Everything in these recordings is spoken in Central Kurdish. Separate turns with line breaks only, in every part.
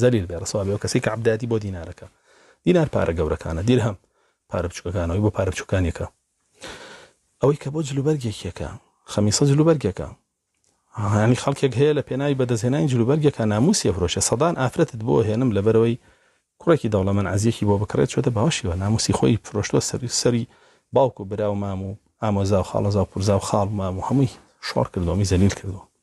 زەلیل بێ ڕسوا بێ ئەو کەسەی کە عەبدایەتی بۆ دینار ئەکا دینار پارە گەورەکانە دیرهەم پارە بچوکەکانە ئەوی بۆ پارە بچوکانی ئەکا ئەوەی کە بۆ جل و بەرگێکی ئەکا خەمیسە جل و بەرگێکە هانی خەڵکێک هەیە لە پێناوی بەدەستهێنانی جل و بەرگێکە ناموسی ئەفرۆشێ سەدان ئافرەتت بۆ هێنم لەبەرەوەی کوڕێکی دەوڵەمەن عەزیەکی بۆ بکڕێت چۆتە باوەشیوە ناموسی خۆی فرۆشتوە سەری سەری باوک و برا و مام و ئامۆزا و خاڵەزا و پورزا و خاڵ و مام و هەمووی شۆڕ کردووە هەمووی زەلیل کردووە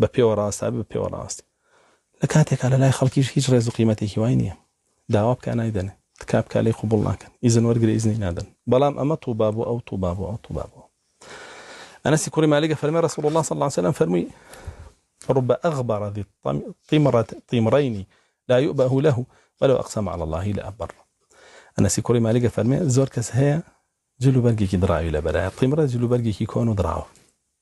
بە پێوە ڕاست ئەبێ بە پێوە ڕاست لە کاتێکا لە لای خەڵکیش هیچ ڕێز و قیمەتێکی وای نیە داوا بکا نایدەنێ تکا بکا لێی قبوڵ ناکەن ئیزن وەرگرە ئیزنی نادەن بەڵام ئەمە طوبا بۆ ئەو طوبا بۆ ئەو طوبا بۆ ئەو ئەنەسی کوڕی مالک ئەفەرمێ ڕسول اللە صلی اللە علیه وسلم فەرمووی رب أغبر ذي طمرة طمرين لا يؤبه له ولو أقسم على الله لأبر ئەنەسی کوڕی مالک ئەفەرمێ زۆر کەس هەیە جلو بەرگێکی دراوی لەبەرایە طمرە جلو بەرگێکی کۆن و دراوە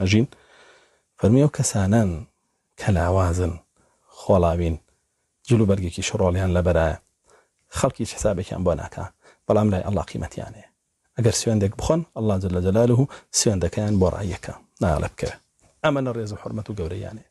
ئەژین، فەرمی ئەو کەسانەن کە لاوازن، خۆڵاوین، جل و بەرگێکی شڕۆڵیان لەبەرایە، خەڵک هیچ حسابێکیان بۆ ناکا، بەڵام لای اللە قیمەتیان هەیە، ئەگەر سوێندێک بخۆن اللە جل جلالە سوێندەکەیان بۆ ڕاییەکە نایەڵێ بکەوێ، ئەمە لە ڕێز و حورمەت و گەورەییان هەیە،